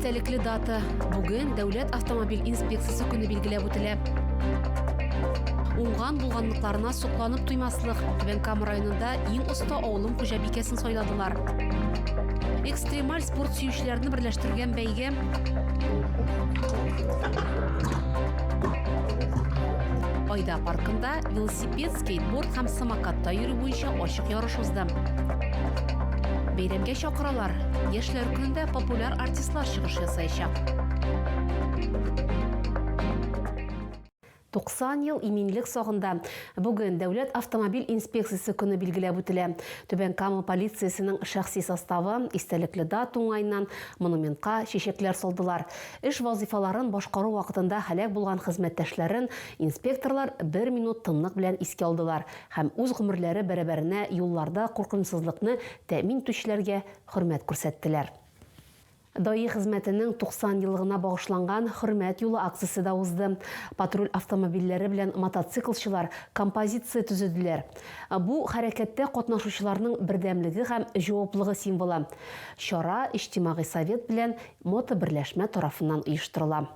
истәлекле дата. Бүген Дәүләт автомобиль инспекциясе көне билгеләп үтелә. Уңган булганлыкларына сокланып туймаслык, Түбән Кама районында иң оста авылым хуҗабикәсен сайладылар. Экстремаль спорт сөючеләрне берләштергән бәйге Айда паркында велосипед велосипед, скейтборд һәм самокатта йөрү буенча ачык ярыш узды. Бәйрәмгә чакыралар. Яшьләр көнендә популяр артистлар чыгыш ясаячак. 90 ел иминлек сагында бүген Дәүләт автомобиль инспекциясе көне билгеләп үтелә. Түбән Кама полициясенең шәхси составы истәлекле дат уңаеннан монументка чәчәкләр салдылар. Эш вазифаларын башкару вакытында һәлак булган хезмәттәшләрен Инспекторлар бер минут тынлык белән искә алдылар һәм үз гомерләре бәрабәренә юлларда куркынычсызлыкны тәэмин итүчеләргә хөрмәт күрсәттеләр. Даи хезмәтенең 90 еллыгына багышланган Хөрмәт юлы акциясе дә узды. Патруль автомобильләре белән мотоциклчылар композиция төзеделәр. Бу, хәрәкәттә катнашучыларның бердәмлеге һәм җаваплыгы символы. Чара Иҗтимагый совет белән мотоберләшмә тарафыннан оештырыла.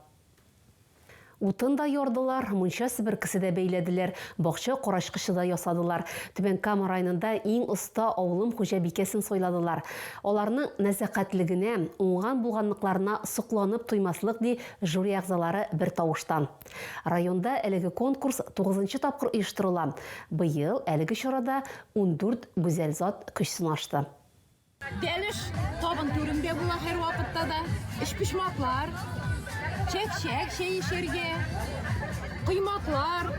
Утын да ярдылар, мунча себеркесе дә бәйләделәр, бакча карачкычы да ясадылар. Түбән Кама районында иң оста авылым хуҗабикәсен сайладылар. Аларның нәзакәтлегенә, уңган-булганлыкларына сокланып туймаслык, ди жюри әгъзалары бертавыштан. Районда әлеге конкурс тугызынчы тапкыр оештырыла. Быел әлеге чарада ундүрт гүзәл зат көч сынашты. Бәлеш табын түрендә була һәрвакытта да. Өчпочмаклар, чәк-чәк чәй эчәргә, коймаклар.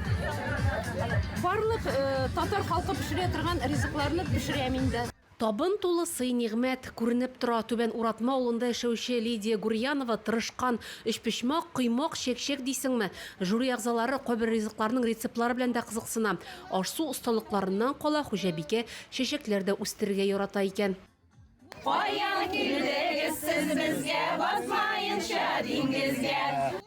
Барлык э, татар халкы пешерә торган ризыкларны пешерәм инде. Табын тулы сый-нигъмәт күренеп тора. Түбән Уратма авылында яшәүче Лидия Гурьянова тырышкан. Өчпочмак, коймак, чәк-чәк дисеңме? Жюри әгъзалары кайбер ризыкларның рецептлары белән дә кызыксына. Аш-су осталыкларыннан кала, хуҗабикә Чәчәкләр дә үстерергә ярата икән. Каян килдегез сез безгә, Батмаенча диңгезгә?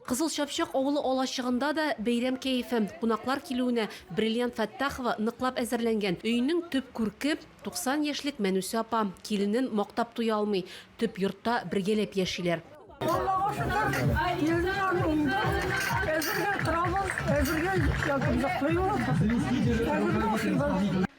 Кызыл Чапчак авылы алачыгында да бәйрәм кәефе. Кунаклар килүенә Бриллиант Фәттахова ныклап әзерләнгән. Өйнең төп күрке, 90 яшьлек Мәнүсә апа. Киленен мактап туя алмый. Төп йортта бергәләп яшиләр. Аллага шөкер, киленем бар монда. Әзергә торабыз, әзергә ятып йоклыйбыз. Әзергә ашыйбыз.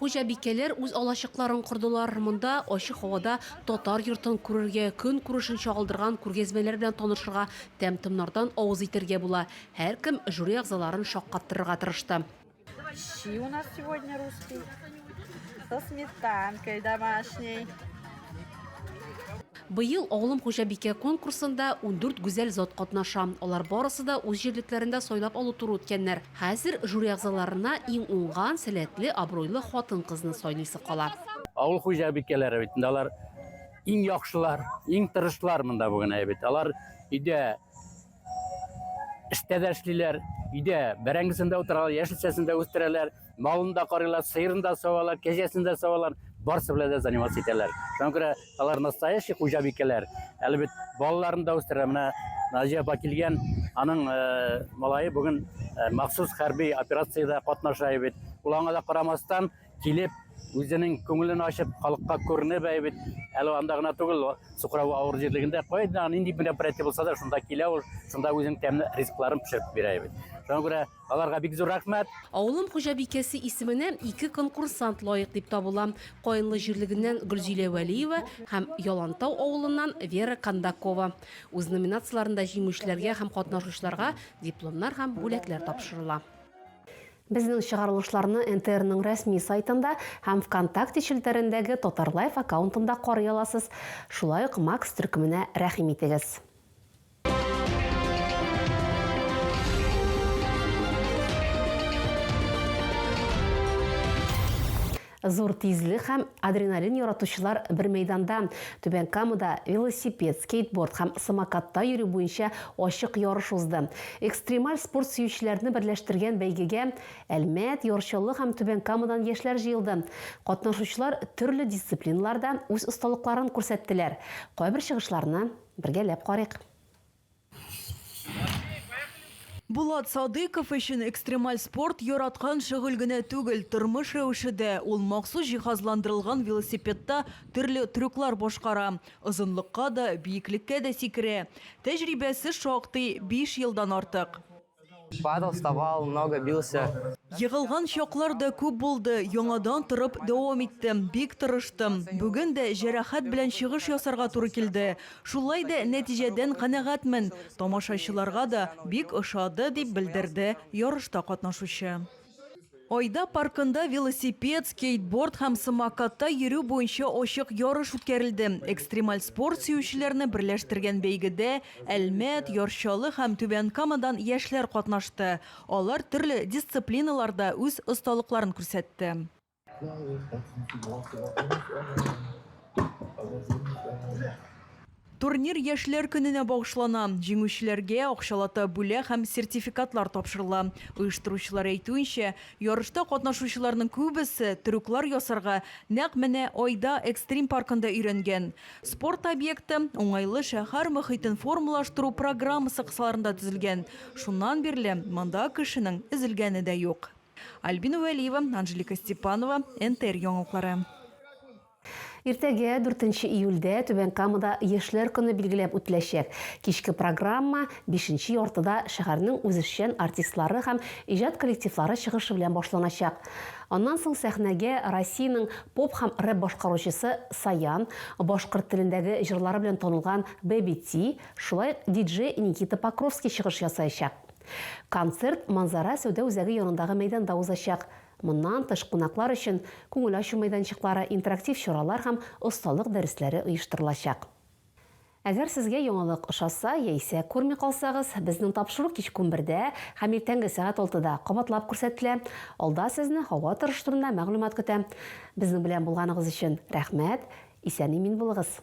Хуҗабикәләр үз алачыкларын кордылар. Монда ачык һавада татар йортын күрергә, көнкүрешен чагылдырган күргәзмәләр белән танышырга, тәм-томнардан авыз итәргә була. Һәркем жюри әгъзаларын шаккаттырырга тырышты. Щи у нас сегодня русский со сметанкой домашней. Быел Авылым хуҗабикә конкурсында ундүрт гүзәл зат катнаша. Алар барысы да үз җирлекләрендә сайлап алу туры үткәннәр. Хәзер жюри әгъзаларына иң уңган, сәләтле, абруйлы хатын-кызны сайлыйсы кала. Авыл хуҗабикәләре бит инде алар иң яхшылар, иң тырышлар монда бүген әйе бит. Алар өйдә эштә дә эшлиләр, өйдә бәрәңгесен дә утыралар, яшелчәсен дә үстерәләр, малын да карыйлар, сыерын да савалар, кәҗәсен дә савалар, барсы белән дә заниматься итәләр. Шуңа күрә Алар настоящий хуҗабикәләр. Әле бит балаларын да үстерә. Менә Наҗия апа килгән, аның э, малае бүген э, махсус хәрби операциядә катнаша бит. Ул аңа да карамастан килеп, үзенең күңелен ачып, халыкка күренеп бит. Әле анда гына түгел, Сухрау авыр җирлегендә кайда нинди мероприятие булса да, шунда килә ул, шунда үзенең тәмле ризыкларын пешереп бирә бит. Шуңа күрә Аларга бик зур рәхмәт! Авылым хуҗабикәсе исеменә ике конкурсант лаек дип табыла, Каенлы җирлегеннән Гөлзилә Вәлиева һәм Ялантау авылыннан Вера Кондакова. Үз номинацияләрендә җиңүчеләргә һәм катнашучыларга дипломнар һәм бүләкләр тапшырыла. Безнең чыгарылышларны НТРның рәсми сайтында һәм ВКонтакте челтәрендәге Татарлайф аккаунтында карый аласыз. Шулай ук Макс төркеменә рәхим итегез! Зур тизлек һәм адреналин яратучылар бер мәйданда. Түбән Камада велосипед, скейтборд һәм самокатта йөрү буенча ачык ярыш узды. Экстремаль спорт сөючеләрне берләштергән бәйгегә Әлмәт, Ярчалы һәм Түбән Камадан яшьләр җыелды. Катнашучылар төрле дисциплиналарда үз осталыкларын күрсәттеләр. Кайбер чыгышларны Бергәләп карыйк. Булат Садыйков өчен экстремаль спорт яраткан шөгыль генә түгел, тормыш рәвеше дә. Ул махсус җиһазландырылган велосипедта төрле трюклар башкара, озынлыкка да, биеклеккә дә сикерә. Тәҗрибәсе шактый, биш елдан артык. Падал, вставал, много бился. Егылган чаклар да күп булды, яңадан торып дәвам иттем, бик тырыштым. Бүген дә җәрәхәт белән чыгыш ясарга туры килде. Шулай да нәтиҗәдән канәгатьмен, тамашачыларга да бик ошады, дип белдерде ярышта катнашучы. Айда паркында велосипед, скейтборд һәм самокатта йөрү буенча ачык ярыш үткәрелде. Экстремаль спорт сөючеләрне берләштергән бәйгедә Әлмәт, Яр Чаллы һәм Түбән Камадан яшьләр катнашты. Алар төрле дисциплиналарда үз осталыкларын күрсәтте. Турнир Яшьләр көненә багышлана. Җиңүчеләргә акчалата бүләк һәм сертификатлар тапшырыла. Оештыручылар әйтүенчә, ярышта катнашучыларның күбесе трюклар ясарга нәкъ менә Айда экстрим паркында өйрәнгән. Спорт объекты уңайлы шәһәр мохитен формалаштыру программасы кысаларында төзелгән. Шуннан бирле монда кешенең өзелгәне дә юк. Альбина Вәлиева, Анжелика Степанова, НТР яңалыклары. Иртәгә, 4 июльдә, Түбән Камада Яшьләр көне билгеләп үтеләчәк. Кичке программа бишенче яртыда шәһәрнең үзешчән артистлары һәм иҗат коллективлары чыгышы белән башланачак. Аннан соң сәхнәгә Россиянең поп һәм рэп башкаручысы Саян, башкорт телендәге җырлары белән танылган Бэби Ти, шулай ук диджей Никита Покровский чыгыш ясаячак. Концерт Манзара сәүдә үзәге янындагы мәйданда узачак. Моннан тыш кунаклар өчен күңел ачу мәйданчыклары, интерактив чаралар һәм осталык дәресләре оештырылачак. Әгәр сезгә яңалык ошаса яисә күрми калсагыз, безнең тапшыру кичкүн бердә һәм иртәнге сәгать алтыда кабатлап күрсәтелә. Алда сезне һава торышы турында мәгълүмат көтә. Безнең белән булганыгыз өчен рәхмәт! Исән-имин булыгыз!